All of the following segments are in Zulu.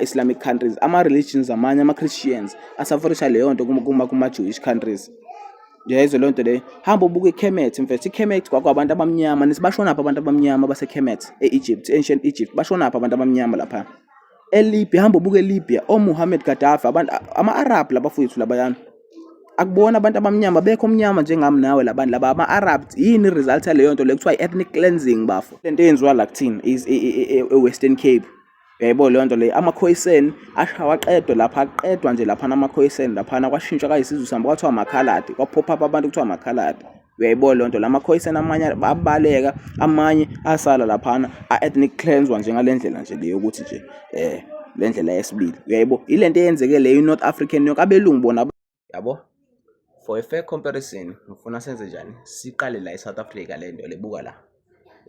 Islamic countries ama religions amanye ama Christians asaforisha leyo nto kuma kuma, kuma Jewish countries yayizwe leyo nto leyo hamba ubuke iKhemet mfethu iKhemet kwakwabantu abamnyama nithi bashonaphi abantu abamnyama baseKhemet e-Egypt ancient Egypt bashonaphi abantu abamnyama lapha eLibya hamba ubuke eLibya oMuhammad Gaddafi abantu ama-Arab labafowethu labayana akubona abantu abamnyama bekho omnyama njengami nawe labantu laba ama-arab yini i-result yaleyo nto le kuthiwa i-ethnic cleansing bafo le nto eyenziwa la kuthina e-western cape Uyayibona leyo nto leyo amakhoyiseni ashawa aqedwe lapha aqedwa nje laphana amakhoyiseni laphana kwashintshwa kayisizwe sihamba kwathiwa amakhaladi kwaphopha up abantu kuthiwa amakhaladi uyayibona leyo nto la makhoyiseni amanye abaleka amanye asala laphana a-ethnic cleanswa njengale ndlela nje le yokuthi nje um le ndlela yesibili uyayibo ile nto eyenzeke leyo i-north african yonke abelungu bona yabo for a fair comparison ngifuna senze njani siqale la eSouth Africa le nto lebuka la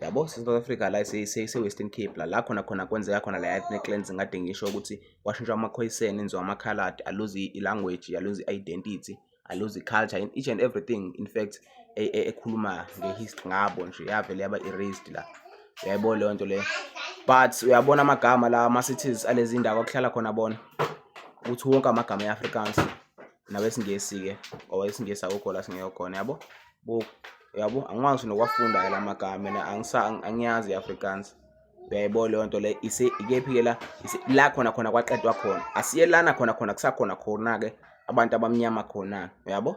yabo South Africa la ise-Western Cape la la khona khona kwenzeka khona la ethnic cleansing kade ngisho ukuthi kwashintshwa amakhoyiseni enziwa amakhaladi aluze i-language aluze i-identity aluze i-culture in each and everything in fact e, e, ekhuluma ngehistory ngabo nje yavele yaba erased la uyayibona leyo nto leyo but uyabona amagama la ama-cities alezi ndawo akuhlala khona bona ukuthi wonke amagama e-afrikaans nabesingesi-ke or isingesi akukho la singekho khona yabo buku yabo angikwazi nokwafunda ke lamagama mina angisa angiyazi iAfrikaans uyayibona leyo nto le ise ikephi ke la la khona khona kwaqedwa khona asiyelana khona khona kusakhona khona ke abantu abamnyama khona uyabo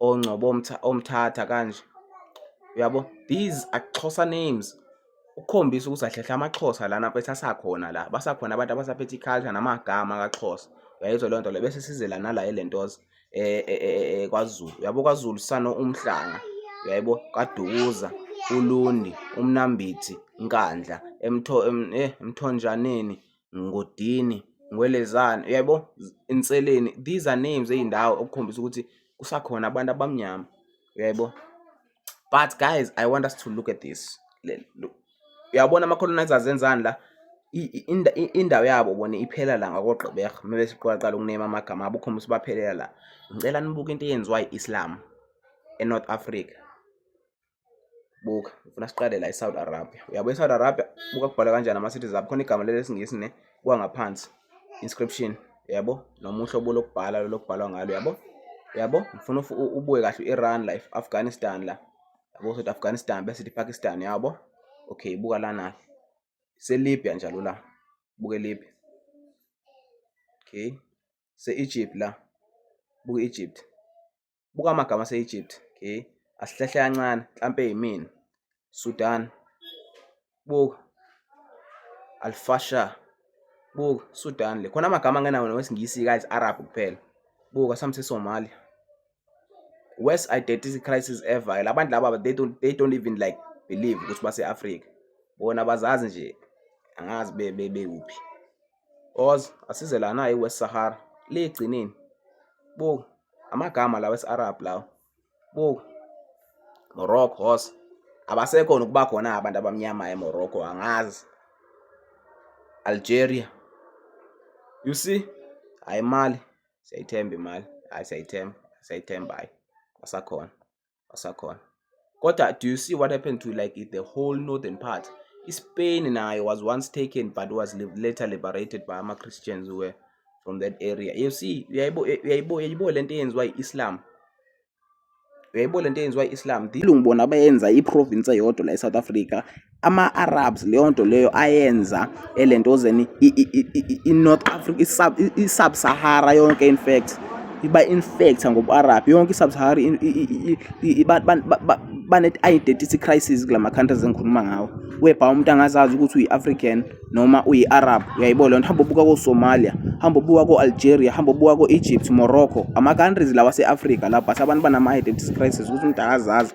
ongcobo omthatha kanje uyabo these are Xhosa names ukukhombisa ukuthi ahlehla amaXhosa lana mfethu asakhona la basakhona abantu abasaphethe iculture namagama kaXhosa uyayizwa leyo nto le bese size lana la elentoza eh, eh, eh, kwaZulu uyabo kwaZulu sano umhlanga uyayibo kadukuza ulundi umnambithi nkandla emtho eh emthonjaneni Ngodini, Ngwelezane, uyabo Inseleni. These are names ey'ndawo okukhombisa ukuthi kusakhona abantu abamnyama, uyabo. But guys, I want us to look at this. Uyabona ama-colonizers enzani la? indawo yabo bona iphela la ngakogqibega uma besiqalaqala ukunema amagama abo ukhombisa baphelela la ngicela nibuke into eyenziwa i-islam enorth africa buka ngifuna siqale la eSaudi Arabia uyabo eSaudi Arabia buka kubhala kanjani ama cities abo khona igama lesingisi ne kwangaphansi inscription yabo noma uhlobo lokubhala lokubhalwa ngalo yabo yabo ngifuna ubuye kahle u-Iran la Afghanistan la yabo sothi Afghanistan bese sithi Pakistan yabo okay buka lana seLibya njalo la buke Libya okay se-Egypt la buke Egypt Buka amagama ase-Egypt. Okay. Asihlehle kancane, mhlampe yimina. Sudan. Buka. Al-Fasher. Buka, Sudan le. Khona amagama angenawo nowesiNgisi guys, Arab kuphela. Buka some Somalia. Worst identity crisis ever. Labantu laba they don't they don't even like believe ukuthi base-Africa. Bona bazazi nje angazi be be bewuphi. Oz asize la naye West Sahara ligcinini buka amagama lawa esi-Arab lawa buka Morocco Oz abasekho nokuba khona abantu abamnyama eMorocco angazi Algeria you see hayi imali siyayithemba imali hayi siyayithemba siyayithemba hayi asakhona asakhona kodwa do you see what happened to like the whole northern part ispain nayo was once taken but was later liberated by ama-christians were from that area you see uyayibo le nto eyenziwa yi-islam uyayibo le nto eyenziwa i-islam ilungu bona bayenza iprovince eyodwa la e-south africa ama-Arabs leyo nto leyo ayenza elentozeni i-North Africa i-Sub-Sahara yonke in fact iba-infecta ngobu-Arab yonke i-Sub-Sahara bane-identity crisis kula ma-countries engikhuluma ngawo webha umuntu angazazi ukuthi uyi-African noma uyi-Arab uyayibona leyo nto hamba ubuka ko-Somalia hamba ubuka ko-Algeria hamba ubuka ko-Egypt Morocco ama-countries lawa ase-Afrika lapho but abantu banama-identity crisis ukuthi umuntu akazazi